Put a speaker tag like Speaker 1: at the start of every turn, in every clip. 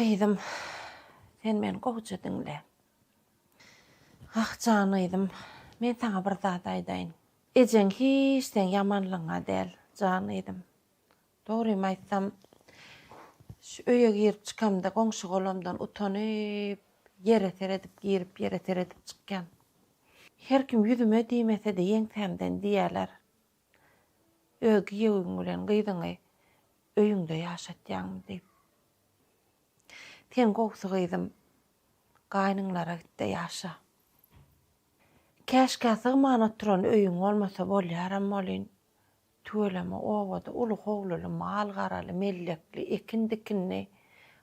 Speaker 1: Gyzym, sen meni gowja diňle. Ah, janyzym, men saňa bir zat aýdaýyn. Ejeň hiç seň ýamanlygyňa däl, janyzym. Dogrymy aýtsam, şu öýe girip-çykamda goňşy-golamdan utanyp, ýere seredip girip, ýere seredip çykýan. Her kim ýüzüme diýmese-de, ýeňsämden diýýäler. öz giýewiň bilen gyzyňy öýüňde ýaşatýaňmy diýip. Sen gowusy gyzym, gaýnyňlara git-de ýaşa. Käşgä sygman oturan öýüň bolmasa bolýaram welin, tüweleme obada uly howluly, mal-garaly, mellekli, ekin-dikinli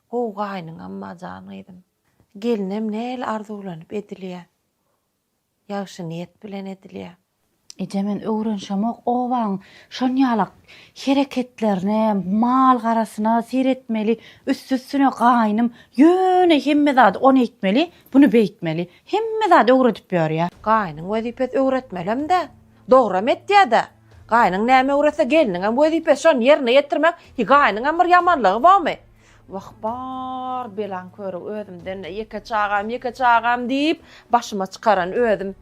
Speaker 1: gowy gaýnyňam bar jan gyzym. Gelinem nähili arzuwlanyp edilýär. Ýagşy niýet bilen edilýär. Eje men öwrenşemok obaň şonýalak hereketlerine, mal garasyna seretmeli, üsti üstüne gaýnym ýöne hemme zady ony eýtmeli, buny beýtmeli. Hemme zady öwredip ýörýä. Gaýnyň wezipesi öwretmelemdä. Dogram etýädä. Gaýnyň näme öwretse gelniňem wezipesi şony ýerine ýetirmek. Hi gaýnyňam bir ýamanlygy bormy? Wah, bar belaň köri, özümden ýeke çagam, ýeke çagam diýip, başyma çykaran özüm.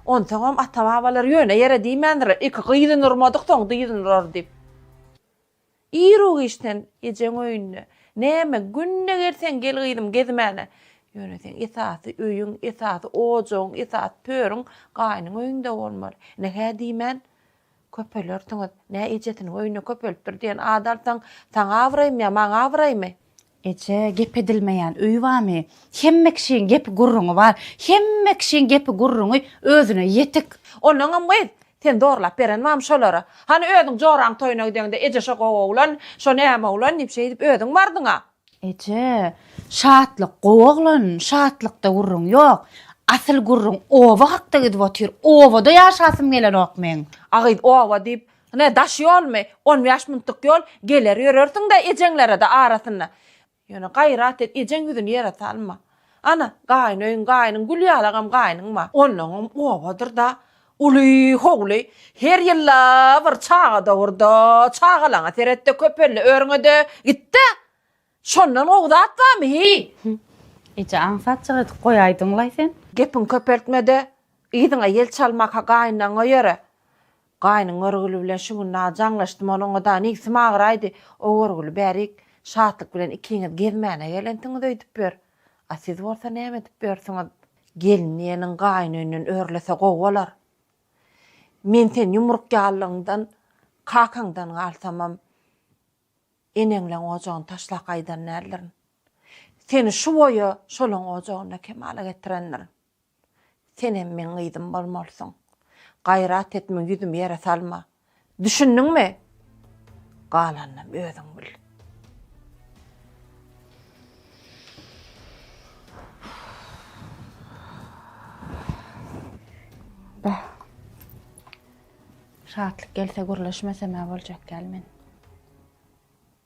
Speaker 1: Onsoňam ata-babalar ýöne ýere diýmändirler, iki gyzyny urmadyk, soň dyzyny urar diýip. Iru giçden ejeň öýünde, Näme, günde gelseň gel gyzym, gezmäne. Ýöne seň esasy öýüň, esasy ojagyň, esasy törüň gaýynyň öýünde bolmaly. Ine, hä diýmän, Köpelersiňiz. Nä ejesiniň öýüne köpelipdir diýen at alsaň, saňa abraýmy ýa maňa abraýmy? Eje, gep edilmeýän öý barmy? Hemme kişiň gepi-gürrüňi bar. Hemme kişiň gepi-gürrüňi özüne ýetik. Onuňam gyz, sen zorlap beren barmy şolara? Hany özüň joraň toýuna gideňde eje şo gowy oglan, şo näme oglan diýip şeýdip özüň bardyň-a. Eje, Şatlyk, gowy oglan, Şatlykda gürrüň ýok. Asyl gürrüň oba hakda gidip otyr. Obada ýaşasym gelenok meň. A gyz, Oba diýip, ine, daş ýolmy? On bäş minutlyk ýol, geler ýörersiň-dä ejeňlere-de arasynda. Ýöne gaýrat et, ejeň ýüzüni ýere salma. Ana, gaýyn öýüň, gaýynyň, Gülýalagam gaýynyň-ma. Onnoňam obadyr-da. Uly howly, her ýyl-a bir çaga dogurda, çagalaňa seret-de, köpelli örňe-de, git-de! Şondan gowy zat barmy, heý? Hü, eje, aňsatjyk edip goýaýdyň-laý sen. Gepiňi köpeltme-de, yzyňa ýel çalmak-a gaýynlaňňa ýöre. Gaýnyň Görgül bilen şu günde jaňlaşdym, onuň-a-da nigsim agyraýdy. O Görgüli bärik, Şatlyk bilen ikiňiz gezmäne gelensiňiz öýdüp ýör. A siz bolsa näme edip ýörsiňiz? Gelin diýeniň gaýynöýünden örlese gowy bolar. Men sen ýumruk ýallygyňdan, kakaňdan galsamam, eneňleň ojagyny taşlap gaýdan däldirin. Seni şu boýa şolaň ojagynda kemala getirendirin. Senem meň gyzym bolmalysyň. Gaýrat et, muň ýüzümi ýere salma. Düşündiňmi? Galanynam özüň bil. Bah. Şatlyk gelse gürleşmesem-ä boljak ýaly men.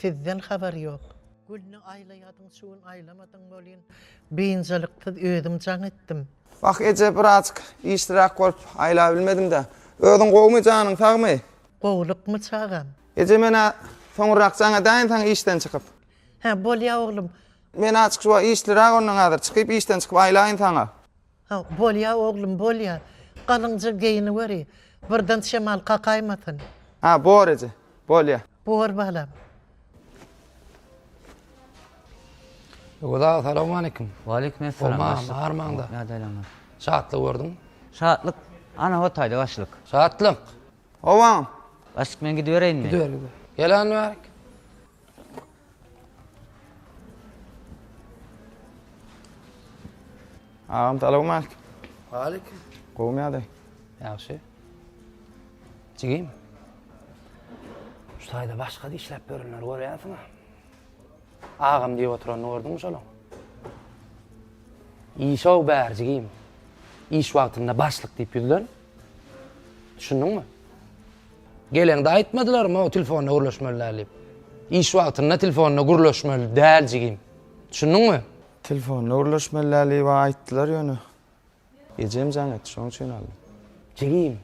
Speaker 1: Sizden habar ýok. Gülni aýlaýadyň şu gün aýlamadyň welin biynjalyksyz özüm jaň etdim. Wah eje birazjyk işliräk bolup aýlabilmedim-dä. Özüň gowumy janyň sagmy? Gowulykmy çagam? Eje men-ä soňurrak jaň edäýin saňa işden çykyp. Hä bolýa oglum. Men-ä çykyp işliräk onnoň häzir çykyp işden çykyp aýlaýyn saňa. Haw, bolýa, oglum, bolýa. Galyňja geýiniweri, birden şemal kakaýmasyn. Haw, bor eje, bolýa. Bor, balam. Öwez aga, salowmaleýkim. Waleýkim essalam, Howmaňam, başlyk. bar maňda. Ýa-da aýlanma. Şatlygy gördüňmi? Şatlyk, ana hotaýda, başlyk. Şatlyk! Howaňam. Başlyk, men gidibereýinmi? Gidiber, gidiber. Gel, Annaberk. Agam salam aleyküm. Aleyküm. Gowmy ýagdaý? Ýagşy. Jigim. Şu taýda başga işläp berenler görýärsiňmi? Agam diýip oturanyny gördüňmi şonuň? Işow bär jigim. Iş wagtynda başlyk diýip ýüzlen. Düşündiňmi? Geleňde aýtmadylarmy tilfonda gürleşmeli däl diýip. Iş wagtynda tilfonda gürleşmeli däl jigim. Düşündiňmi? Tilfonda gürleşmeli däl diýip aýtdylar ýöne. Ejem jaň etdi şoň üçin aldym. Jigim.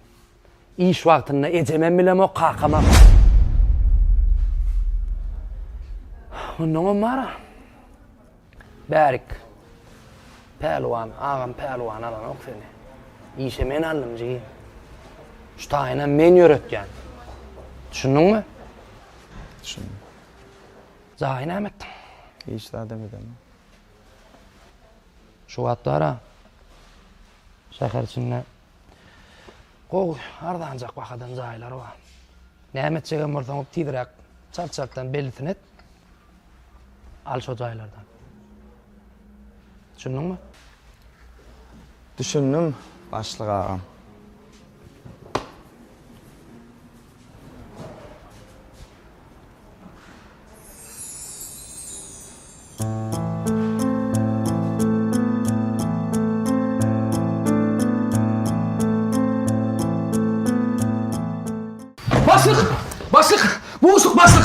Speaker 1: Iş wagtynda ejemem bilemok kakamam. Onnoňam bara. Bärik. Pälwan agam pälwan alanok seni. Işe men aldym jigim. Şu taýynam men ýöretýän. Düşündiňmi? Düşündim. Jaýy näme etdiň? Hiç zadam edemen. Şu wagtlara şäher içinde gowy, arzanjak bahadan jaýlar bar. Näme etjegem bolsaň, tizräk çalt-çaltdan bellisini et. Al şo jaýlardan. Düşündiňmi? Düşündim, başlyk agam. Başlyk! Başlyk! Buşuk başlyk!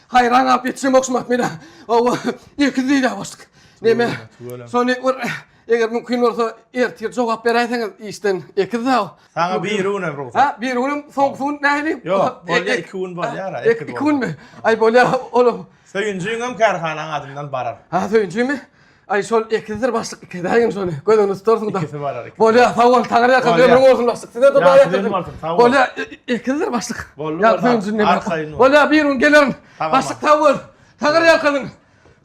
Speaker 1: Haýran galyp ýetişem ogşym atmyna. Hawa, ilki diýdä başlyk. Neme? Şony bir eger mümkin bolsa ertir jogap beräýseňiz işden ekiz-ä. Saňa biri günem rugsat. Ha, biri günem soňky gün nähili? Ýok, bolýa iki gün bolýar-a. Iki günmi? Aý bolýa olam. Söýünjiňem kärhanaň adyndan barar. Ha, söýünjimi? Ay şol ekizdir başlyk ikizägin şony göz öňünde tutarsyň da. Ikisi barar. Bolýa sag bol taňry ýakan Bolýa. ömrüň bolsun başlyk. Size de dua Ýagşy ýetirdim. bolsun, sag bol. Bolýa e- ekizdir başlyk. Boldy, Ýa boldy. söýün jünne At bir. saýyn bol. Bolýa bir gün gelerin. Tamam, Başlyk abi. sag bol. Taňry ýakan.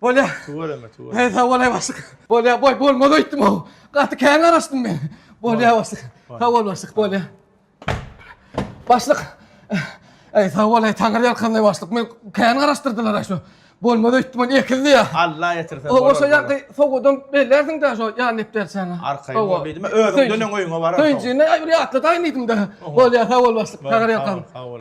Speaker 1: Bolýa. Tüweleme, tüweleme. Hey sag bolaý başlyk. Bolýa boý bolmaz öýtdüm o. Gaty kän garaşdym men. Bolýa başlyk. Sag bol başlyk bolýa. Başlyk. Ey sag bol ey taňry ýalkanly başlyk. Men kän garaşdyrdylar aşo. Bolmaz öýtdüm ony ekildi ya. Allah ýetirsin. O oşo ýagdy sowadan bellersiň da şo ýan nepderçäni. Arkaýyn bol diýdim. Özüň dönen öýüňe barar. Öýjine aýry ýatla daýyn diýdim de. Bol ýa sag bol başlyk. Taňry ýalkan. Sag bol.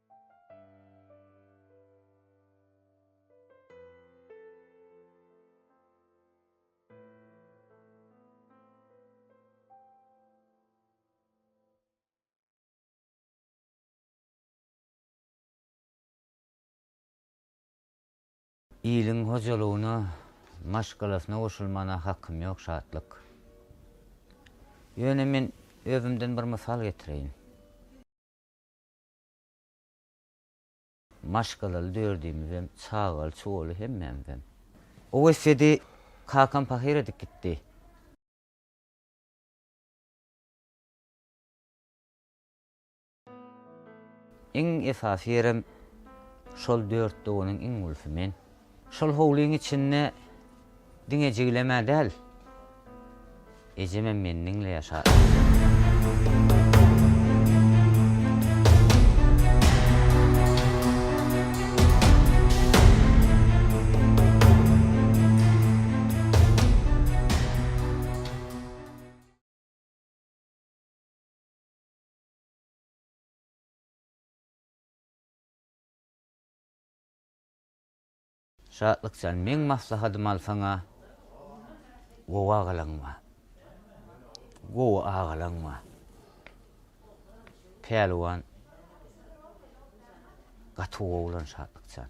Speaker 1: Iliň hojalygyna, maşgalasyna goşulmana hakym ýok, Şatlyk. Ýöne men özümden bir mysal getireýin. Maşgalaly dördümizem, çagaly-çugaly hemmämizem. Oweý sedi kakam pahyr edip gitdi. Iň esasy ýerem şol dört doganyň iň ulusi men. Şol howlyň içinde diňe jigilemä däl, ejemem meni diňle ýaşar. Şatlyk jan meň maslahatymy alsaňa gowy agalaň bar. Gowy agalaň bar. Pälwan gaty gowy oglan Şatlyk jan.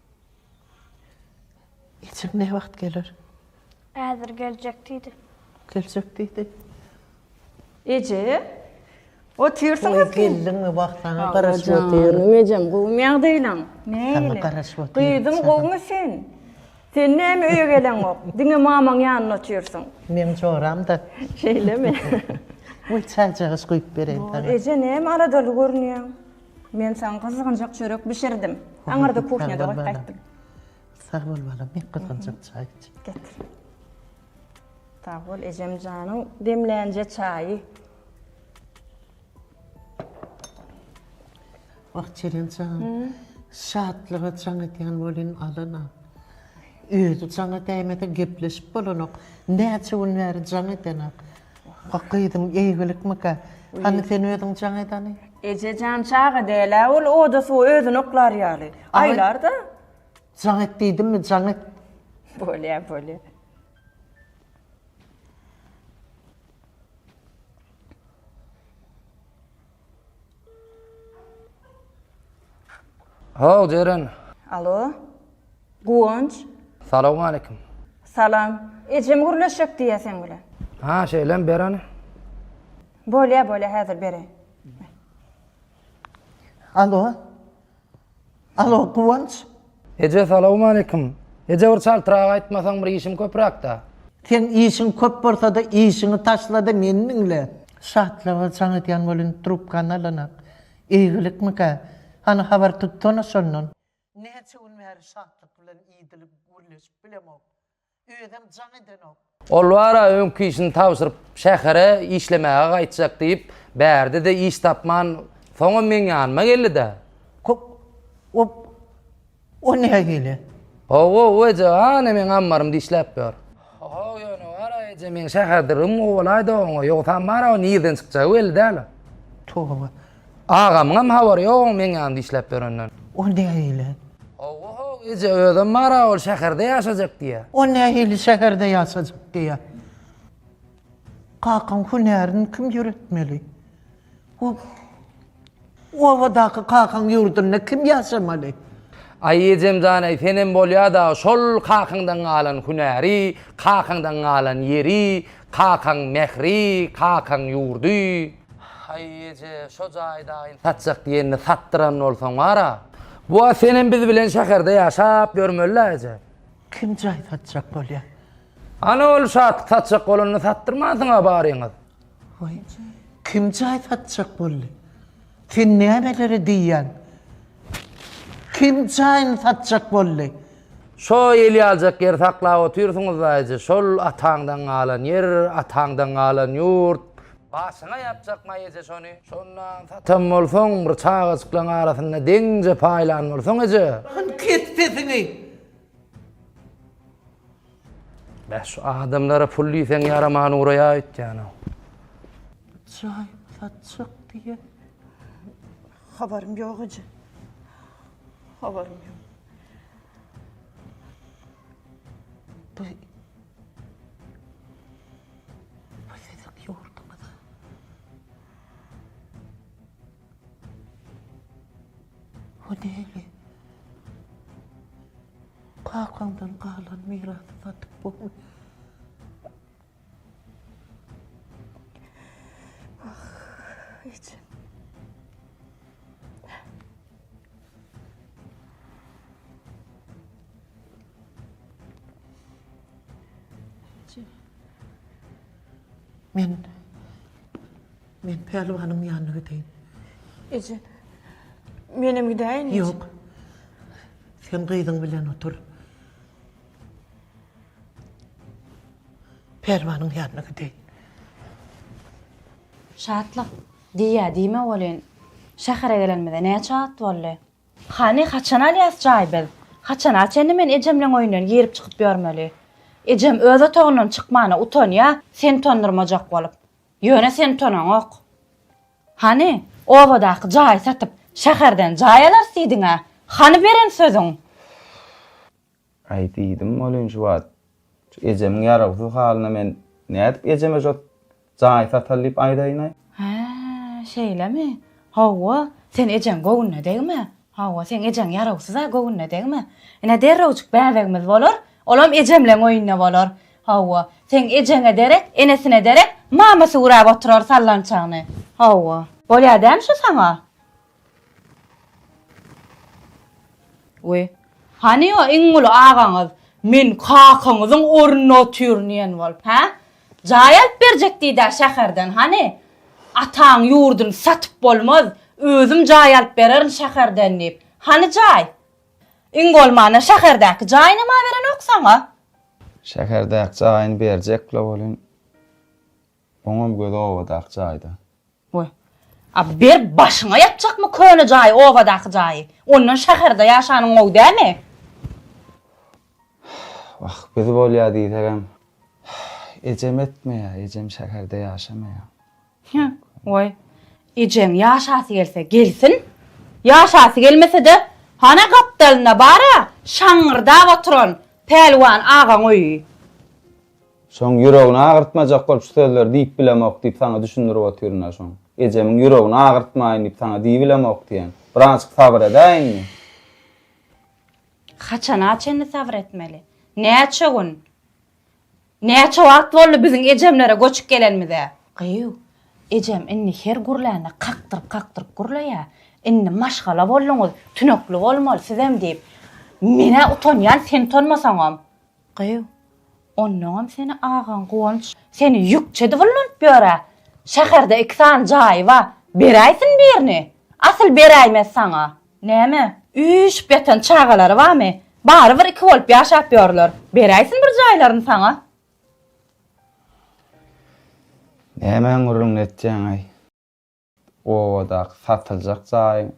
Speaker 1: Ejem ne wagt geler? Häzir geljek diýdi. Geljek diýdi. Eje, otyrsyňyz ki. Geldiňmi wah saňa garaşyp otyr. Ejem gowymy ýagdaýlaň? Nägile? Garaşyp otyr. Gyzym gowymy sen? Sen näme öýe geleňok? Diňe mamaň ýanynda otyrsyň. Meň joram-da. Şeýlemi? Goý çaýjagaz guýup bereýin saňa. Eje näme aladaly görünýäň? Men saňa gyzgynjak çörek bişirdim. Aňyrda kuhnýada goýup gaýtdym. Sag bol balam, bir gyzgynjak çaý iç. Getir. Sag bol ejem janyň demlänje çaýy. Wah, Çeren jan, şatlyga jaň edýän welin alana. Özi jaňa däýmese gepleşip bolanok. Näçe gün bäri jaň edenak. Wah, gyzyň eýgilikmikä? Hany, sen özüň jaň edani? Eje jan çaga däl-ä ol, oda-suwa özüni oklar ýaly. Aýlar-da. Jaň et diýdimmi, jaň et. Bolýa, bolýa. Haw, Jeren. Alo. Guwanç. Salowmaleýkim. Salam. Ejem gürleşjek diýýä seň bilen. Ha, şeýlemi, ber ony. Bolýa, bolýa, häzir bereýin. Alo. Alo Guwanç. Eje salawmaleýkim. Eje bir çaltrak aýtmasaň bir işim köpräkdä. Seň işiň köp bolsada işiňi taşlada meni diňle. Şatlyga jaň edýän bol indi trubkany alanak. Eýgilikmikä? Hany habar tutsana şondan. Näçe gün bäri Şatlyk bilen idilip gürleşip bilemok. Özem jaň edenok. Ol bar-a öňki işini tabşyryp şähere işlemäge gaýtjak diýip bärde-de iş tapman soňam meň ýanyma geldi-dä. Kok, op, o näme hili? Ho-ho-o eje, hany meň ammarymda işläp ýör. Ho-ho, ýöne bar-a eje meň şäherde rym gowalaýda oňa, ýogsam bar-a o nirden çykjagy belli däl-a. Toba. Agamyňam habary ýok oň meň ýanymda işläp ýörenden. Ol nähili? Hawa-haw, eje, özem bar-a, ol şäherde ýaşajak diýýä. Ol nähili şäherde ýaşajak diýýä? Kakaň hünärini kim ýöretmeli? Bu obadaky kakaň ýurdunda kim ýaşamaly? Aý, ejem jan-eý, senem bolýa-da, şol kakaňdan galan hünäri, kakaňdan galan ýeri, Kakaň mähri, kakaň ýurdy. Haý, eje, şo jaýy daýyn satjak diýende satdyran bolsaň bar-a. Wah, senem biz bilen şäherde ýaşap ýörmeli-dä, eje. Kim jaý satjak bolýa? Hany ol şat satjak bolanda satdyrmansyň-a baryňyz. Waý, kim jaý satjak boldy? Sen nämeleri diýýäň? Kim jaýyny satjak boldy? Şo eli aljak ýeri saklap otyrsyňyz daýyjy, şol ataňdan galan ýer, ataňdan galan ýurt. Başyňa ýapjakma eje şony. Şondan satan bolsaň, bir çagajyklaň arasynda deňje paýlan bolsaň eje. Hany kes sesiňi! Beh şu adamlara pul diýseň ýaraman uraýa öýtýänow. Jaý satjak diýýä. Habarym ýok eje. Habarym ýok. Bu Bu siziň ýurduňyza. Bu näme? Kakaňdan galan mirasy satyp bolmaýar. Ah, ejem. Ejem. Men Men Pälwanyň ýanyna gideýin. Eje, menem gidäýin. Ýok. Sen gyzyň bilen otur. Pälwanyň ýanyna gideýin. Şatlyk, diýýä diýme welin, şähere gelenimize näçe wagt boldy? Hany, haçan alýas jaý biz? Haçana çenli men ejemleň öýünden girip-çykyp ýörmeli? Ejem öz otagyndan çykmana utanýa, seni utandyrmajak bolup. Ýöne sen tonaňok. Hany, obadaky jaýy satyp, şäherden jaý alarys diýdiň-ä. Hany beren sözüň? Aý, diýdim welin şu wagt, şu ejemiň ýaragysyz halyna men nädip ejeme şu jaýy sataly diýip aýdaýyn-aý? Hä, şeýlemi? Hawa, sen ejeň göwnüne degme. Hawa, seň ejeň ýarawsyz-a, göwnüne degme. Ine, derrewjik bäbegimiz bolar, olam ejemleň oýnuna bolar. Hawa, seň ejeňe derek, enesine derek, mamasy güräp oturar sallançagyny. Hawa. Bolýar dämi şu saňa? Wi, hany o iň uly agaňyz, men kakaňyzyň ornuna otyryn diýen bolup, hä? Jaý alyp berjek diýdä şäherden hany? Ataň ýurduny satyp bolmaz, özüm jaý alyp bererin şäherden diýip. Hany jaý? Iň bolmanda şäherdäki jaýynam aberenok saňa. Şäherdäki jaýyny berjek-le welin, oňam gözi obadaky jaýda. Goý. A bir başyňa ýatjakmy köne jaýy obadaky jaýy. Ondan şäherde ýaşanyň gowy dämi? Wah, biz bolýa diýsegem. Ejem etmeýä, ejem şäherde ýaşamaýa. Hä, goý. Ejeň ýaşasy gelse gelsin. Ýaşasy gelmese-de, hana gapdalynda bar-a, şaňňyrdap oturan Pälwan agaň öýi. Şoň ýüregini agyrtmajak bolup şu sözleri diýip bilemok diýip saňa düşündirip otyryn-a şoň. Ejemiň ýüregini agyrtmaýyn diýip saňa diýibilemok diýen. Birazajyk sabyr edä indi. Haçana çenli sabyr etmeli? Näçe gün? Näçe wagt boldy biziň ejemlere göçüp gelenimize? Gyýw, ejem indi her gürlände kakdyryp-kakdyryp gürleýä. Indi maşgala bolduňyz, tünekli bolmaly sizem diýip. Men-ä utanýan, sen utanmasaňam. Gyz, onnoňam seni agaň Guwanç. Seni ýükçedi gullanyp ýör-ä. Şäherde iki sany jaýy bar. Beräýsin birini. Asyl beräýmez saňa. Näme, üýşüp ýatan çagalary barmy? Barybir iki bolup ýaşap ýörler. Beräýsin bir jaýlaryny saňa. Nämäň gürrüňini etýäň-aý? Obadaky satyljak jaýyň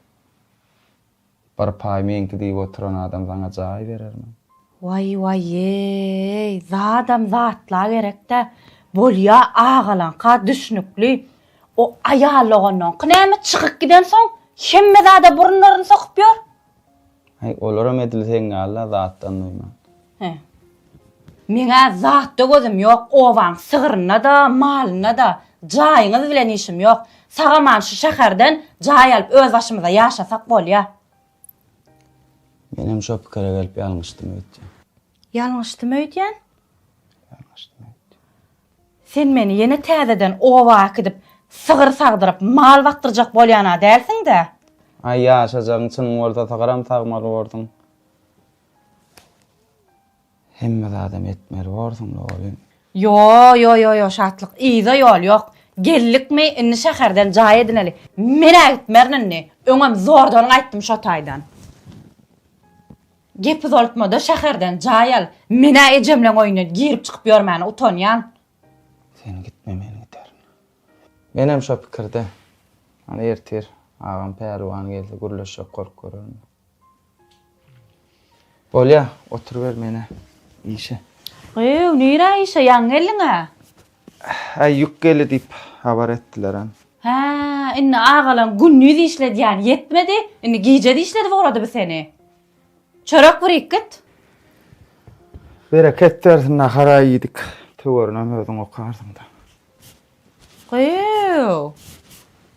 Speaker 1: bir paýy meňki diýip oturan adam saňa jaý berermi? Waý waýeý, zadam zatla gerek-dä. Bolýa agalaňka düşnükli. O aýal doganyňky näme çykyp gidensoň hemme zada burunlaryny sokup ýör? Häý, olaram edil seň ýaly-la zatdan duýman. Hä. Meň-ä zatda gözüm ýok, obaň sygryna-da, malyna-da. Jaýyňyz bilen işim ýok. Sag-aman şu şäherden jaý alyp özbaşymyza ýaşasak bolýa. Menem şo pikire gelip ýalňyşdym öýtýän. Ýalňyşdymy öýdýän? Ýalňyşdymy öýdýän? Sen meni ýene täzeden oba äkidip, sygyr sagdyryp, mal bakdyrjak bolýan-a dälsiň-dä? Aý, ýaşajagyň çyn bolsa, sygyram sagmaly borsuň. Hemme zadam etmeli borsuň-la welin. Ýo-ýo-ýo-ýo, Şatlyk, yza ýol ýok. Geldikmi, indi şäherden jaý edineli. Men-ä gitmerin indi. Öňem zordan gaýtdym şo taýdan. Gep uzaltmada şäherden jaý al. Men-ä ejemleň öýüne girip-çykyp ýörmäne utanýan. Sen gitme men giderin. Menem şo pikirde. Hany ertir agam Pälwan gelse gürleşjek gorup görerin. Bolýa, oturyber men-ä işe. Gyýw, nirä işe, ýaňy geldiň-ä? Häý, ýük geldi diýip, habar etdilerem. Hä, indi agalam gündiz işledýän ýetmedi, indi gijede işledip ugrady bu seni. Çörek birik git. Bereket bersin, nahar-a iýdik. Töwerini hem özüň okarsyň-da. Gyýw!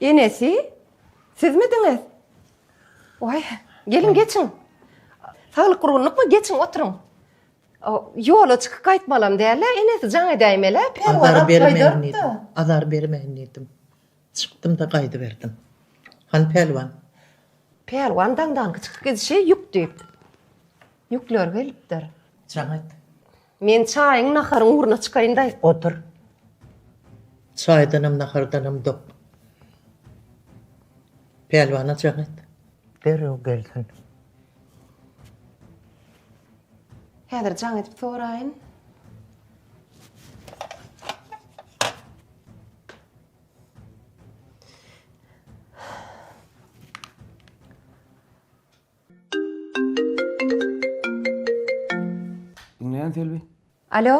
Speaker 1: Enesi, sizmidiňiz? Oý, geliň geçiň. Saglyk gurgunlykmy? Geçiň, oturyň. Ýola çykyp gaýtmalam däl-ä, enesi jaň edäýmeli, perwara gaýdardy. Azar bermeýin diýdim. Çykdym-da gaýdyberdim. Han Pälwan. Pälwan daňdanky çykyp gidişi ýük diýip. Ýükler gelipdir. Jaň et. Men çaýyň, naharyň ugruna çykaýyn-daý. Otur. Çaýdanam, nahardanam dok. Pälwana jaň et. Derrew gelsin. Häzir jaň edip soraýyn. Diňleýän Selbi. Alo.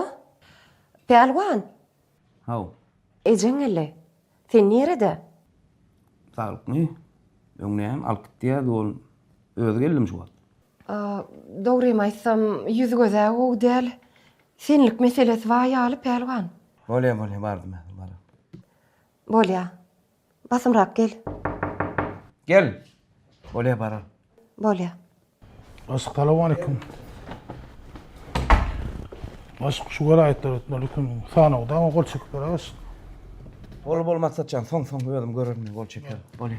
Speaker 1: Pälwan. Haw. Ejeň geldi. Sen nirede? Saglykmy? Öň näme alyp gitýärdi ol? Özi geldimi şu wagt? Dogrymy aýtsam, ýüzi göz-ä gowy däl. Senlik meselesi bar ýaly, Pälwan. Bolýa, bolýa, bardym häzir, barar. Bolýa. Basymrak gel. Gel. Bolýa baran. Bolýa. Assalawmaleýkum. Başyk şu welaýatlar ötmelikin. Sanawda gol çekip bereris. Bol bol maksatjan soň soň özüm görürüm gol çeker. Bolýa.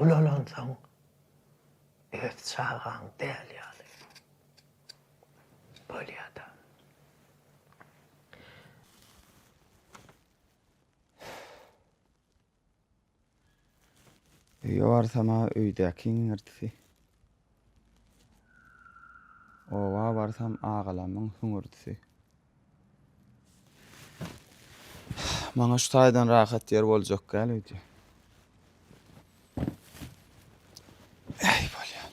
Speaker 1: Ulalansoň öz çagaň däl ýaly bolýada. Öýe barsam-a öýdäki iňirdisi. Oba barsam agalamyň hüňürdisi. Maňa şu taýdan rahat ýer boljak gal öýdýän. Ey bolýan.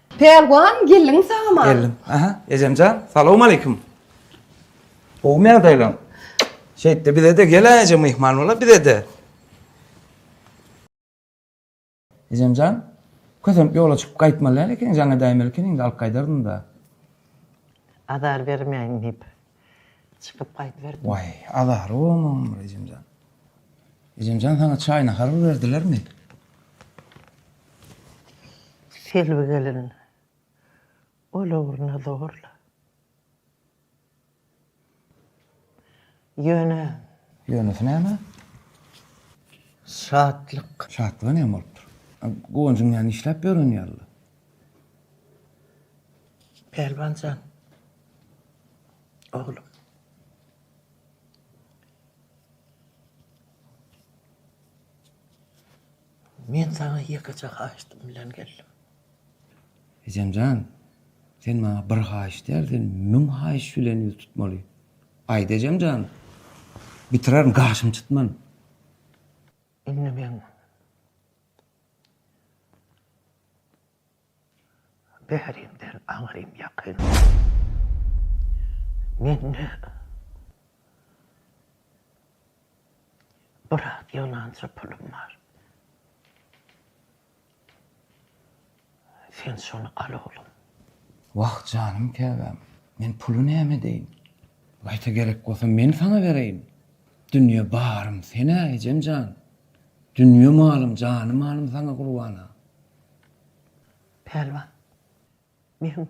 Speaker 1: Pälwan geldiňmi salam-a. Geldim. Aha, ejemjan, salowmaleýkim. Gowumy ýagdaýlaň? Şeýtde bize-de gel-ä eje myhman bol-a bize-de. Ejemjan, kösenip ýola çykyp gaýtmaly däl ekeniň, jaň edäýmeli ekeniň-de, alyp gaýdardym-da. Azar bermäýin diýip. Çykyp gaýdyberdim. Waý, azary bolmagyň bir Ejemjan. Ejemjan saňa çaý nahar bir berdilermi? Selbi gelin ol ugruna zorla. Ýöne. Ýönesi näme? Şatlyk. Şatlyga näme bolupdyr? Guwanjyň ýany işläp ýören ýaly. Pälwan jan. Oglum. Men saňa ýekeje haýyştym bilen geldim. Ejemjan, sen maňa bir haýyş däl, sen müň haýyş bilen ýüz tutmaly. Aýt ejemjan. Bitirerin, gaşym çytman. Indi men Bärimden aňrym ýakyn. Mende biraz ýygnança pulum bar. Sen şony al oglum. Wah janym käbäm, men puly näme edeýin? Gaýta gerek bolsa men saňa bereýin. Dünýe barym sen-ä ejem jan. Dünýe malym, jany-malym saňa gurbana. Pälwan, meň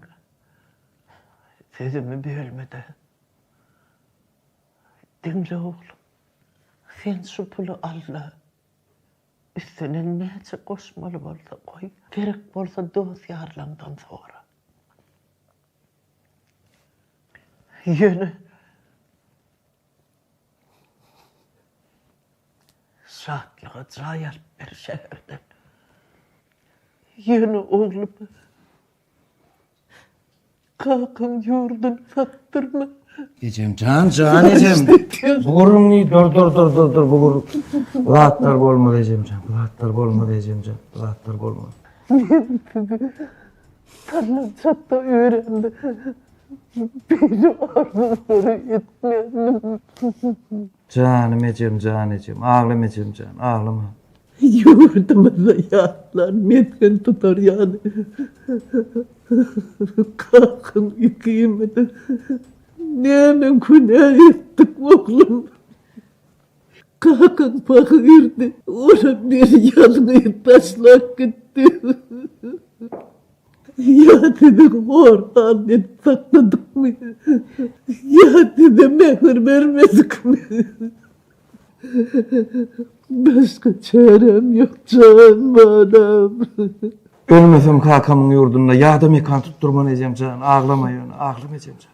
Speaker 1: sözümi bölme-de. Diňle oglum, sen şu puly al-da, üstüne näçe goşmaly bolsa goý, gerek bolsa dost-ýarlaňdan sora. Ýöne Şatlyga jaý alyp ber şäherden. Ýöne oglum kakaň ýurduny satdyrma. Ejem jan jan ejem. Bu gürrüňi dur dur dur dur dur bu gürrüň. Bu zatlar bolmaz ejem jan. Bu zatlar bolmaz ejem jan. Bu zatlar bolmaz. Salyjak-da öýrendi. Beýle arzuwlary etmändim. Janym ejem jan ejem, aglama ejem jan, aglama. Ýurdumyzda ýaşlar mesgen tutar ýaly Kakan ikimiz näme günä etdik oglum? Kakaň pahyrydy. Ony bir ýalňyz taşlap gitdi. Ýa sizi hor halda edip sakladykmy? Ýa size mähir bermedikmi? Başga çäräm ýok jan balam. Ölmesem kakamyň ýurdunda ýada mekan tutdurman ejemjan, aglama ýöne, aglama ejemjan.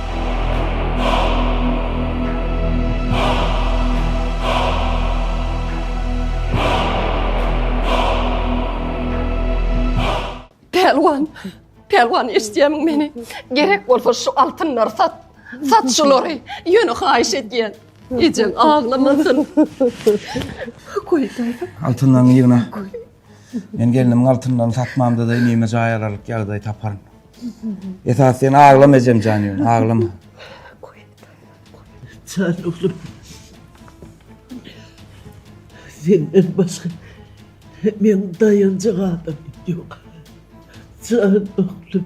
Speaker 1: Pälwan, Pälwan eşitýämiň meni? Gerek bolsa şu altynlary sat. Sat şulary. Ýöne haýyş edýän. Ejeň aglamasyn. Goý, daýza. Altynlaryňy ýygna. Men gelnimiň altynlaryny satmamda-da inime jaý alaryk ýagdaý taparyn. Esas sen aglama ejem jan ýöne, aglama. Sen oglum. Senden başga men daýanjak adam ýok. Sen oglum.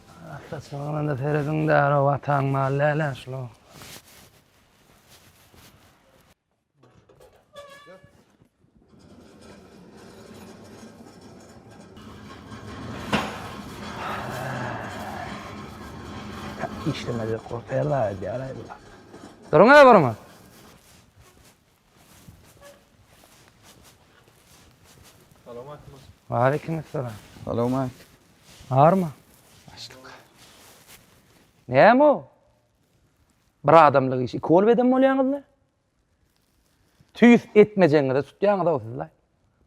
Speaker 1: Saçmagyna-da serediň-de, ara wataň maly däl-ä şular. işlemedi. Korkar da edýär aýdylar. Durun-a, durun-a. Waleýkim salam. Salowmat. Barmy? Başlyk. Näme o? Bir adamlyk iş, iki bolup edem bolýaňyzmy? Tüýs etmejeňize tutýaňyz-ow sizler.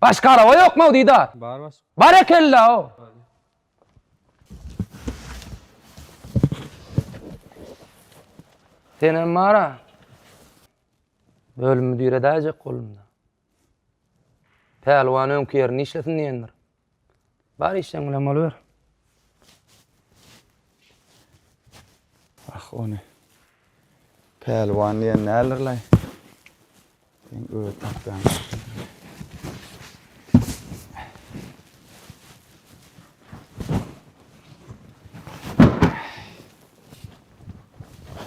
Speaker 1: Başga araba ýokmy o diýdi. Bar başlyk. Barekella o. Senem bara. Bölüm müdiri edäýjek bolunda. Pälwan öňki ýerinde işlesin diýendir. Bar işleň bilen boluber. Ah ony. Pälwan diýen näler laý? Sen öýe tapýan.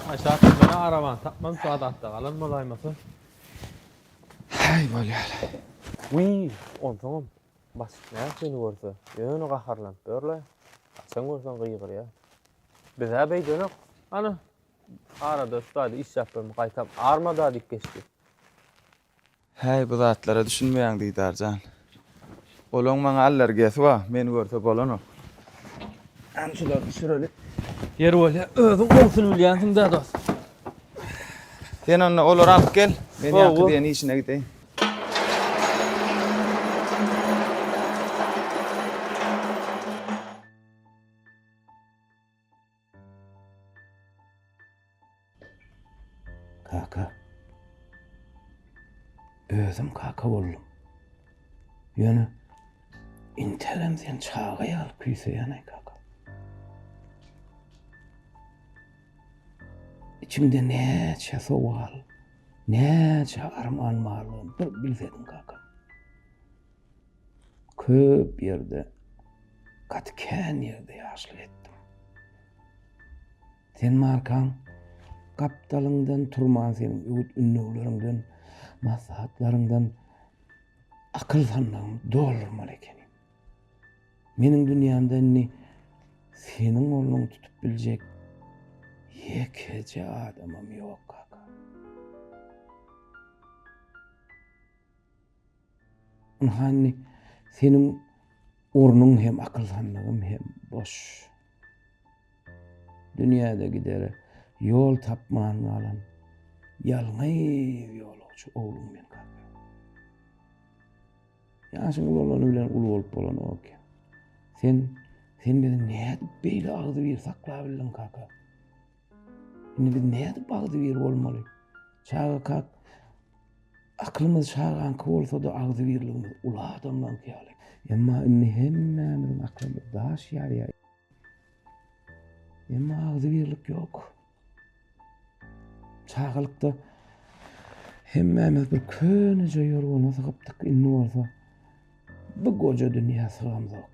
Speaker 1: Aşak bana araban tapmam şu adatta galan bolaýmasyn. Hey bolýar. Wiý, onsoňam basyp näme seni görse, ýöne gaharlanyp ýörle. Açan görsen gygyrýa. Bizä beýdenok. Ana, arada üstaýda iş ýapyp gaýtam armada diýip geçdi. Häý, bu zatlara düşünmeýäň, Didar jan. Olaň maňa allergiýasy bar, meni görse bolanok. Hany şulary düşüreli. Ýeri bolýa, özüň gowusyny bilýänsiň-dä, dost. Sen onda olary alyp gel, men ýaňky diýen işine gideýin. Kaka. Özüm kaka boldum. Ýöne intelem sen çaga ýaly küýseýän aý kaka. İçiňde näçe sowal, näçe arman barlygyny bir bilsediň kaka. Köp ýerde, gaty kän ýerde ýaşlyk etdim. Sen markaň gapdalyňdan turman seniň öwüt-ündegleriňden, maslahatlaryňdan akyl-sandagymy doldurmaly ekenim. Meniň dünýämde indi seniň ornuňy tutup biljek ýekeje adamym ýok, kaka. Ynha indi seniň ornuň hem akylhanlygyň hem boş. Dünýäde gidere ýol tapman galan ýalňyz ýolagçy ogluň men kaka. Ýaşyň uly bolany bilen uly bolup bolanok eken. Sen sen bizi nädip beýle agzybir saklabildiň kaka? Indi biz nädip bagzybir bolmaly? Çaga kak, Akylymyz çagaňky bolsa-da, agzybirligimiz uly adamlaňky ýaly. Emma indi hemmämiziň aklymyz daş ýarýar. Emma agzybirlik ýok. Çagalykda hemmämiz bir köneje ýorgana sygypdyk, indi bolsa bu goja dünýä sygamzok.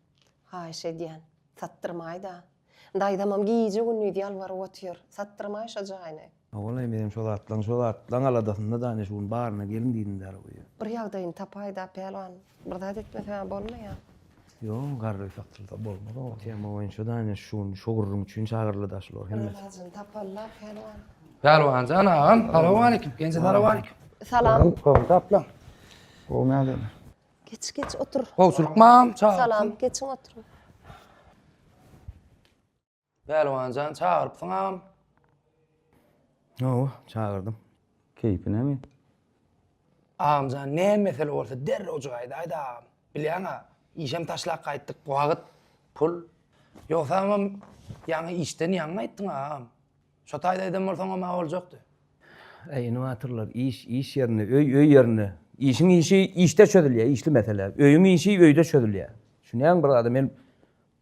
Speaker 1: Haýyş edýän, satdyrmaý-da. Daýzamam gije-gündiz ýalbaryp otyr, satdyrmaý şo jaýyny. Ogulaý, menem şo zatlaň, şo zatlaň aladasynda-da, ine, şu gün baryna gelin diýdim däl bu ýere. Bir ýagdaýyny tapaý-da, pälwan. Bir zat etmese-ä bolmaýa. Ýok, garry satylsa bolmaz ogul. Tema boýunça-da, ine, şu gün şo gürrüň üçin çagyryldy-da şular hemmesi. Bir ilajyny tapaly-la, pälwan. Pälwan jan agam, salowmaleýkim. Genje salowmaleýkim. Salam. Gowy tapdyň. Gowy nädeni? Geç geç otur. Gowçulyk mam, çagyr. Salam, geçiň oturyň. Pälwanjan çagyrypsyňam. Hawa, çagyrdym. Keýpi näme? Agamjan ne mesele bolsa derrew jaýda aýt agam. Bilýäň-ä, işem taşlap gaýtdyk, wagt, pul. Ýogsamam ýaňy işden ýaňy gaýtdyň agam. Şo taýda eden bolsaňam maga boljakdy. Äý ine batyrlar, iş, iş ýerinde, öý, öý ýerinde. Işiň işi işde çözülýär, işli mesele. Öýüň işi öýde çözülýär. Düşünýäňmi bir zada, men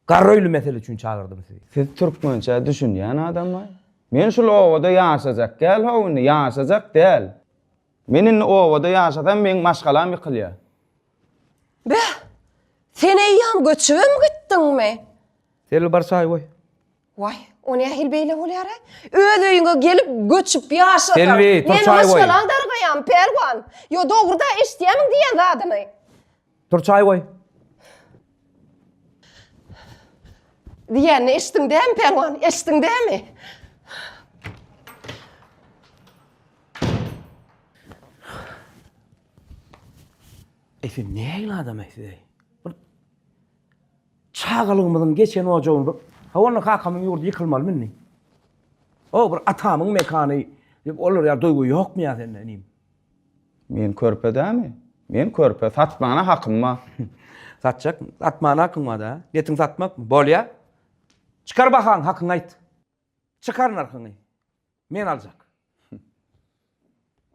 Speaker 1: garry öýli mesele üçin çagyrdym sizi. Siz türkmençä düşünýän adamlaý. Men şul obada ýaşajak däl-how indi, ýaşajak däl. Men indi obada ýaşasam meň maşgalam ýykylýar. Beh! Sen eýýäm göçübem gitdiňmi? Selbi bar çaý goý. Waý, o nähili beýle bolýar-aý? Öz öýüňe gelip, göçüp ýaşasaň, Selbi, meniň turçaý goý. maşgalaň dargaýarmy, Pälwan? Ýo, dogruda eşidýärmiň diýýän zadyny? Tur çaý goý. Diýýänini eşitdiň dämi, Pälwan? Eşitdiň dämi? Eý, sen nähili adam-aý, siz-eý? Çagalygymyzyň geçen ojagynda, Hawa onda kakamyň ýurdy ýykylmalymy indi? O bir atamyň mekany diýip olara ýa duýgy ýokmy ýa sende inim? Men körpe dämi? Men körpe, satmana hakym bar. Satjak, satmana hakyň bar-da. Netiň satmakmy? Bolýa. Çykar bahaňy, hakyňy aýt. Çykar nyrhyňy. Men aljak.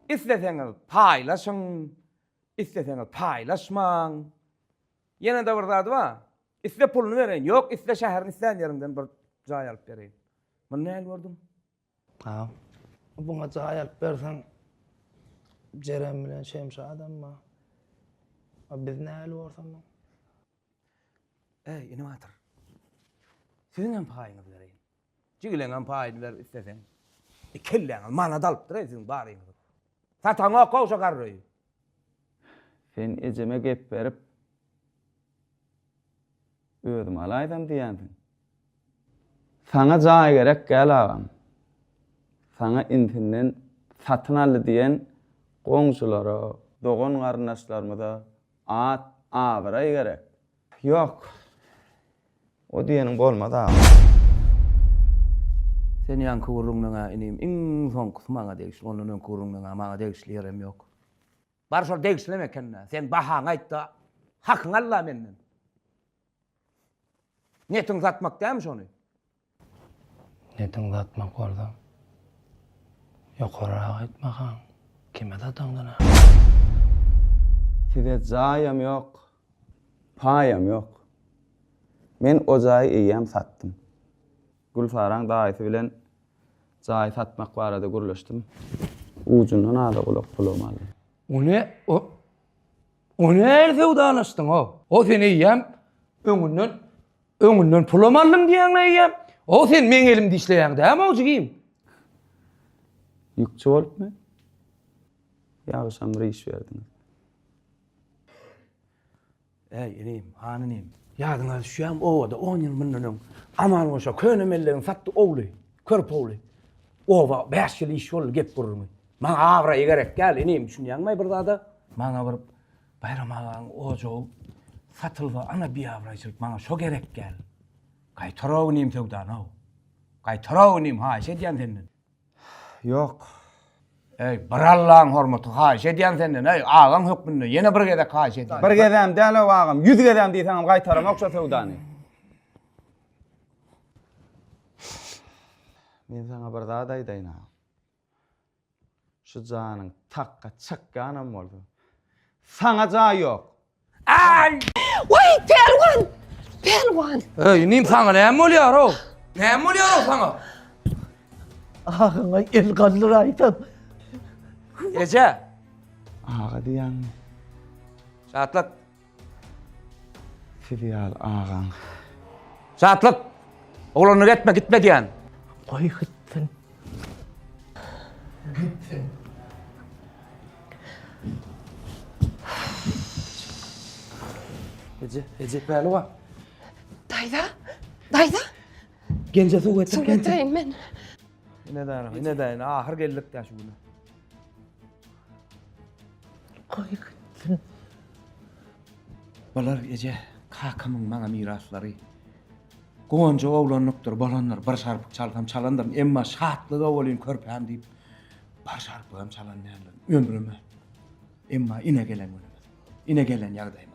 Speaker 1: Isleseňiz paýlaşyň, isleseňiz paýlaşmaň. Ýene-de bir zady bar. Iste puluny bereýin, ýok iste şäheriň islän ýerinden bir jaý alyp bereýin. Muny nähili gördüň? Agam, buňa jaý alyp berseň, Jeren bilen Şemşadam bar. A biz nähili borsam muny? Äý, inim Batyr, siziňem paýyňyzy bereýin. Jigileňem paýyny ber isleseň. E kelläňiz manat alypdyr-eý siziň baryňyzy. Sataňok goşa garryýi. Sen ejeme gep berip özüm alaýsam diýýänsiň. Saňa jaý gerek gäl agam. Saňa intinden satyn aldy diýen goňşulara, dogan-garyndaşlarymyza at, abraý gerek. Ýok. O diýeniň bolmaz agam. Sen ýaňky gürrüňleň-ä inim iň soňkusy maňa degişli, ondan öňki gürrüňleň-ä maňa degişli ýerem ýok. Bar şol degişlem eken-dä. Sen bahaňy aýt-da, hakyňy al-la menden. Niýetiň satmak dälmi şony? Netiň zatmak bolsa ýokaryrak aýt makaň kime zataňdan a. Size jaýam ýok paýam ýok men o jaýy eýýäm satdym. Gülsaraň daýysy bilen jaýy satmak barada gürleşdim ujundan aza gulak pulum aldy. Ony o o nähili söwdalaşdyň o o sen eýýäm öňünden Öňünden pulam aldym diýýäňle eýýäm. Ho sen meň elimde işleýäň dämow jigim. Ýükçi bolupmy? Ýagşam bir iş berdiňiz. Äý, inim, han inim, ýadyňa düşýärmi, obada on ýyl mundan öň Aman goşa köne mellegiň satdy owly, körpe owly. Oba bäş ýyl iş boldy gep gürrüňi. Maňa abraý gerek däl, inim, düşünýäňmi bir zada? Maňa bir Baýram agaň ojagy satylsa ana biabraýçylyk maňa şo gerek däl. Gaýtara-ow inim söwdany-ow. Gaýtara-ow inim haýyş edýän senden. Ýok. Eý, bir Allaň hormaty haýyş edýän senden eý, agaň hökmünde ýene bir gezek haýyş edýän. Bir gezem däl-ow agam, ýüz gezem diýseňem gaýtaramok şo söwdany. Men saňa bir zat aýdaýyn-a. Şu janyň takga çykýanam bolsa, saňa jaý ýok! Äý! Waý, Pälwan! Pälwan! Öý, inim, saňa näme bolýar-ow? Näme bolýar-ow saňa? Agyňa el galdyraýsam. Eje! Aga diýýäňmi? Şatlak! Sizi ýaly agaň. Şatlyk! Oglanlar etme, gitme diýen. Goý gitsin. Gitsin. Eje, eje Pälwan. Daýza, daýza. Genje suw getir, genje. Suw getireýin men. Ine daýza, ine daýza. Ahyr geldik daş günä. Goý gitsin. Bolar eje, kakamyň maňa miraslary. Guwanjak oglanlykdyr, bolandyr, bir şarpyk çalsam çalandyryn, emma şatlyga welin körpäm diýip, bir şarpygam çalan däldirin, ömrüme. Emma ine gelen günümiz, ine gelen ýagdaýymyz.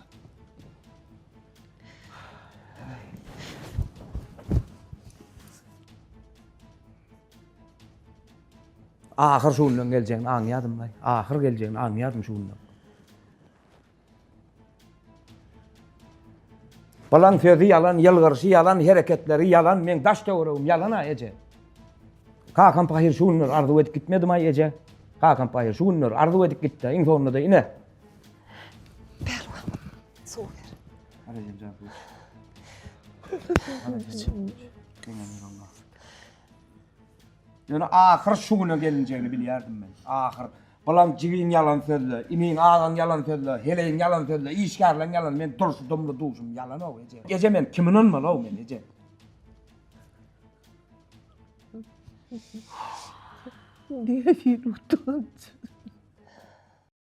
Speaker 1: Ahyr şu günleň geljegini aňýadym-laý. Ahyr geljegini aňýadym şu günleň. Balan sözi ýalan, ýylgyryşy ýalan, hereketleri ýalan, meň daş-töweregim ýalan-a, eje. Kakam pahyr şu günler arzuw edip gitmedim-aý, eje. Kakam pahyr şu günler arzuw edip gitdi, iň soňunda-da ine. Pälwan, suw ber. Ýöne ahyr şu güne gelinjegini bilýärdim men. Ahyr, Bilaň jigiň ýalan sözle, iniň, agaň ýalan sözle, heleýiň ýalan sözle, işgärleň ýalan, men durşudymly duşum ýalan-ow, eje. Eje, men kime ynanmaly-ow men, eje? Diýen hili utanç.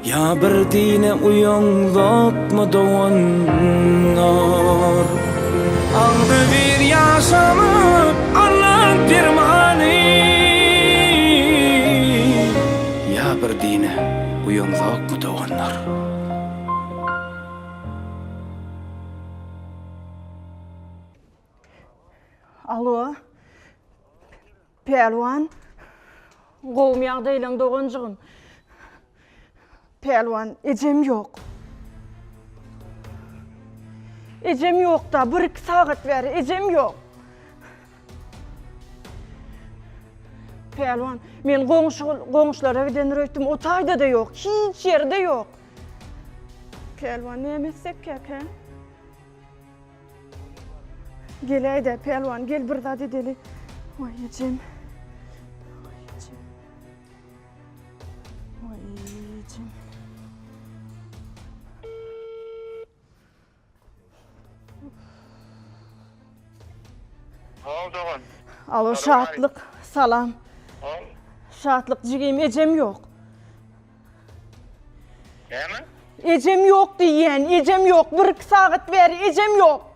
Speaker 1: Ýa bir dine uýaň zotmy doganlar. Agzybir ýaşamak Allaň permany. Ýa bir dine uýaň zotmy doganlar. Alo. Pälwan Gowmy ýagdaýlaň doganjygym? Pälwan Ejem ýok. Ejem ýokda bir iki sagat bäri ejem ýok. Pälwan men goňşy goňşulara gidendir öýtdüm o taýda-da ýok hiç ýerde ýok. Pälwan näme etsek käk hä? Geläýdä, pälwan, gel bir zat edeli. Oý, ejem. Oý, ejem. Oý, ejem. Hal dogan. Alo, şatlyk, salam. Şatlyk jigim, ejem ýok. Näme? Ejem ýok diýýän, ejem ýok. Bir iki sagat bäri ejem ýok.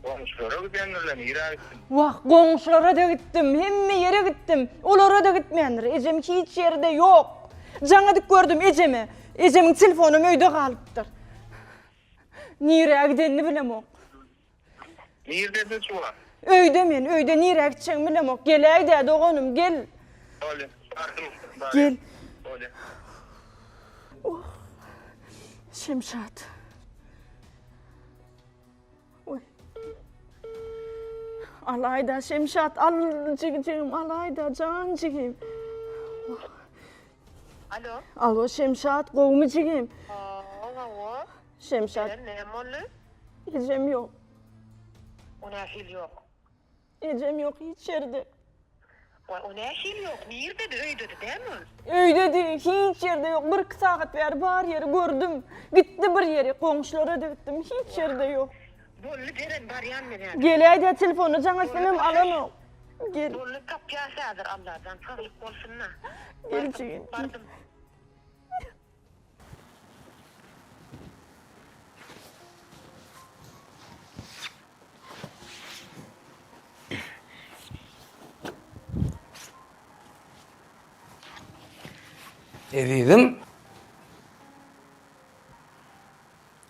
Speaker 1: Goňşulara gidendirler, nirä gitsin? Wah, goňşulara-da gitdim, hemme ýere gitdim. Olara-da gitmändir. Ejem hiç ýerde ýok. Jaňadyk gördüm ejemi. Ejemiň telefonam öýde galypdyr. Nirä gidenini bilemok. Nirdesiň Suwa? Öýde men, öýde nirä gitjegimi bilemok. Geläýdä doganym, gel. Bolýa, bardym, barýan. Bolýa. Oh. Şemşat. Oý. Alaýda Şemşat, al jigijigim, alaýda jan jigim. Oh. Alo. Alo Şemşat, gowumy jigim? Aa, gowy. Şemşat. Ejem näme boldy? Ejem ýok. O nähili ýok? Ejem ýok hiç ýerde. Waý, o nähili ýok? Nirdedi? Öýdedi dämi ol? Öýdedi, hiç ýerde ýok. Bir-iki sagat bäri bar ýeri gördüm. Gitdi bir ýeri, goňşulara-da gitdim, hiç ýerde ýok. Bolly, beren, barýan men häzir. Geläý-dä, telefony jaň etsem hem alanok. Gel. Bolly, tapýas häzir, Allajan saglyk bolsun-da. Gel jigim. Bardym. Ezizim.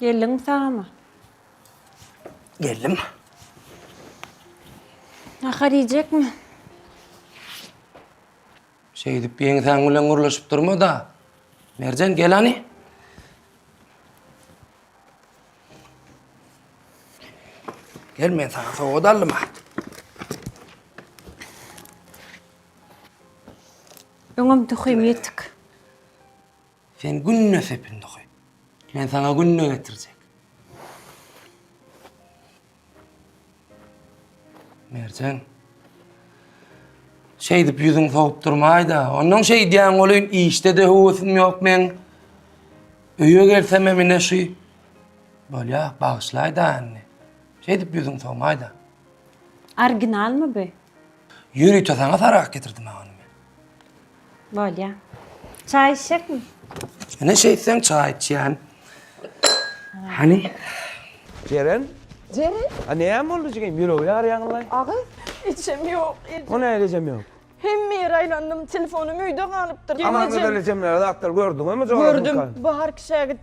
Speaker 1: Geldiňmi sagama? Geldim. Nahar iýjekmi? Şeýdip ýeňsäň bilen gürleşip durma-da. Merjen gel hany. Gel men sana sowgat aldym ha. Öňem töheýim ýetik. Sen günde sepindi oky. Men saňa günde getirjek. Merjen. Şeýdip ýüzüň sowup durmaýda. Ondan şeýdýän bolyn, işde de höwesim ýok men. Öýe gelsem hem ine şu. Bolýa, bagyşlaýda indi. Şeýdip ýüzüň sowmaýda. Orginalmy bu? Ýörite saňa sarak getirdim agam. Bolýa. Çaý içjekmi? Ine şeýtseň çaý içýän. Hany? Jeren? Jeren? A näme boldy jigim? Ýüregi ýarýaňyllaý. Aga, içem ýok. O näme içem ýok? Hemme ýere aýlandym, telefonym öýde galypdyr. Aman gözeli jemlere zatlar gördüňmi? Gördüm. Baharky şägit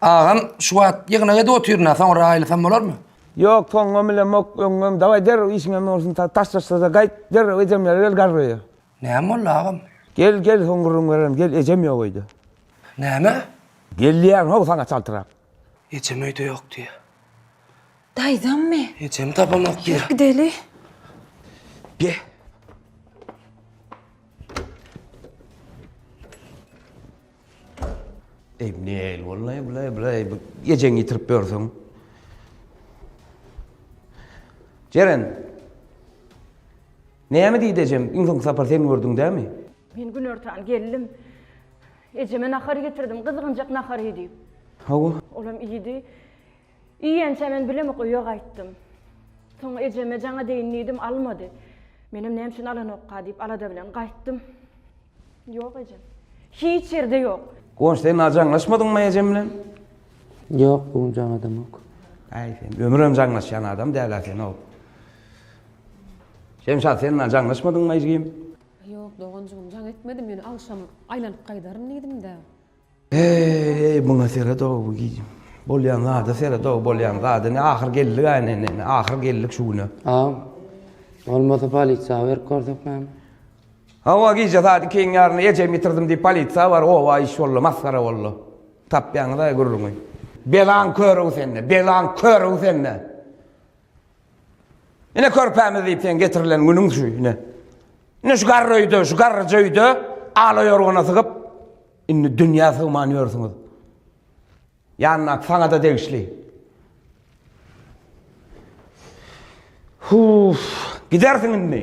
Speaker 1: Agam şu wagt ýygnak edip otyryn, soňra aýlasam bolarmy? Ýok, soňam bilemok, öňňem. Daway derrew işiňe bolsun, taşlaşsa-da gaýt, derrew ejemlere gel garryja. Näme boldy agam? Gel, gel, soň gürrüň bererin. Gel, ejem ýok öýde. Näme? Gelýän-how saňa çaltrak. Ejem öýde ýok diýýär. Daýzammy? Ejemi tapamok diýýär. Ýör gideli. Ge. Emnel, wallahi bulay bulay bu gecen yitirip görsün. Ceren. Näme diýdi ejem? Iň soň sapar sen gördüň dämi? Men günortan geldim. Ejeme nahar getirdim, gyzgynjak nahary diýip. Hawa. Olam iýdi. Iýýänçä men bilemek öýe gaýtdym. Soň ejeme jaňa deýin diýdim, almady. Menem näme üçin alanokka diýip alada bilen gaýtdym. Ýok ejem. Hiç ýerde ýok. Guwanç, sen az jaňlaşmadyňmy ejem bilen? Ýok, bu gün jaňadamok. Äý, sen ömrem jaňlaşýan adam däl-ä sen-ow. Şemşat, sen az jaňlaşmadyňmy ejgim? Ýok, doganjygym, jaň etmedim, ýöne agşam aýlanyp gaýdaryn diýdim-dä. Eý, muňa seret-ow, bolýan zada seret-ow, bolýan zada, ine, ahyr geldik-ä, ine, ine, ine, ahyr geldik şu güne. Aw, bolmasa polisiýa habar berip görsek näme? Hawa, gije saat ikiň ýarynda ejemi ýitirdim diýip polisiýa bar, oba iş boldy, masgara boldy. Tapýaňyz-aý gürrüňi. Belaň köri-ow sende, belaň köri-ow sende! Ine körpämiz diýip sen getirilen günüň şu ine. Ine şu garry öýde, şu garryja öýde ala ýorgana sygyp, indi dünýä sygman ýörsüňiz. Ýannak saňa-da degişli. Huf, gidersiň indi.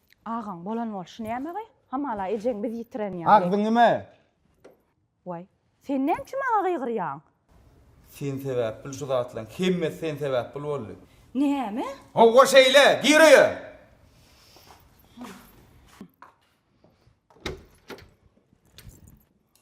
Speaker 1: Agaň bolan bolşy nämegy? Hamala ejeň biz ýitiren ýaly. Agzyňyme! Waý, sen näme üçin maňa gygyrýaň? Sen sebäp bil şu zatlaň hemmesi sen sebäp bil boldy. Näme? Howwa şeýle, gir öýe!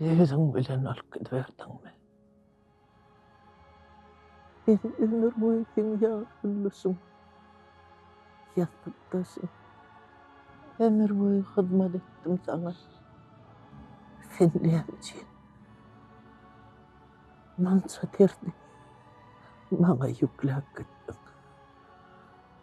Speaker 1: Özüň bilen alyp gidiberdiňmi? Biz ömür boýy seň ýaly güllüşiň ýassykdaşy. Ömür boýy hyzmat etdim saňa. Sen näme üçin munça derdi maňa ýükläp gitdiň?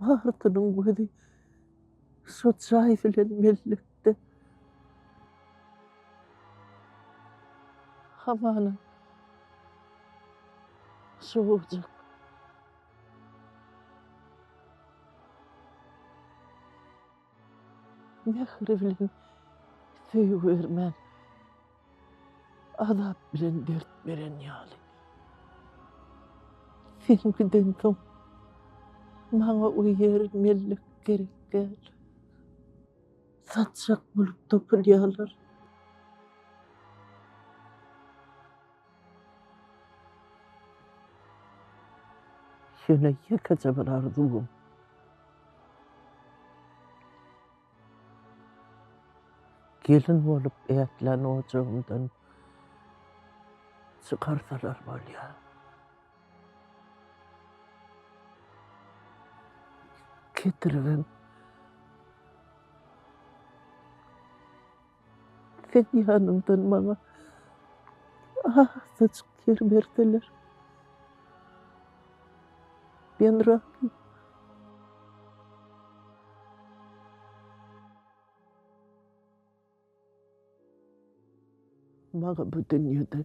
Speaker 1: Barysynyň gözi şo çaý bilen mellekde. Hamana şo ojak. Mähri bilen söýgi bermän Azap bilen dert beren ýaly. Sen gidensoň, maňa o ýer mellek gerek däl. Satjak bolup topulýarlar. Ýöne ýekeje bir arzuwym. Gelin bolup ätlän ojagymdan çykarsalar bolýar. Ketrigim. Sen ýanymdan maňa azajyk ýer berseler. Men razy. Maňa bu dünýede.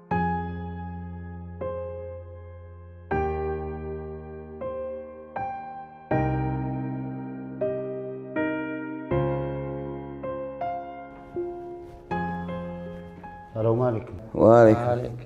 Speaker 1: Assalamu alaikum. Wa alaikum.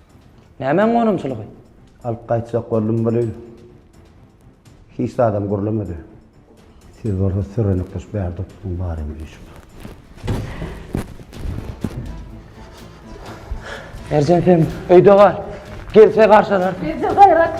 Speaker 1: Nämäň gonamçylygy? Alyp gaýtjak boldum welin, hiç zadam gürlemedi. Siz bolsa sürenip tuş bärde oturyň baryň diýşip. Merjen sen öýde gal. Gelse garşalar. Gelse gaýrat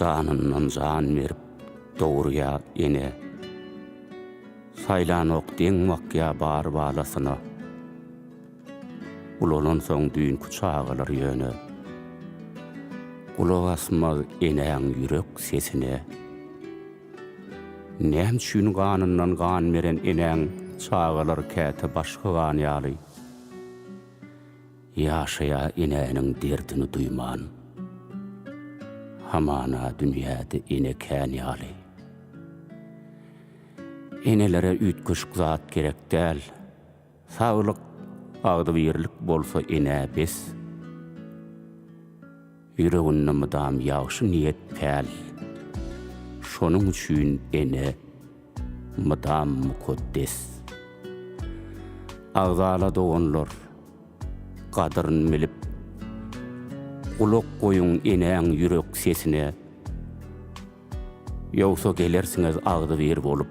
Speaker 1: Janyndan jan berip dogurýa ene, Saýlanok deň bakýa bar balasyna. Ulalansoň düýnki çagalar ýöne, Gulak asmaz enäň ýürek sesine. Näme üçin ganyndan gan beren enäň çagalary käte başga gan ýaly ýaşaýar enäniň derdini duýman? Hamana dünýäde ene kän ýaly. Enelere üýtgeşik zat gerek däl. Saglyk agzybirlik bolsa enä bes Ýüreginde mydam ýagşy niýet päl Şonuň üçin ene mydam mukaddes Agzala doganlar gadyryn bilip Gulak goýuň enäň ýürek sesine Ýogsa gelersiňiz agzybir bolup.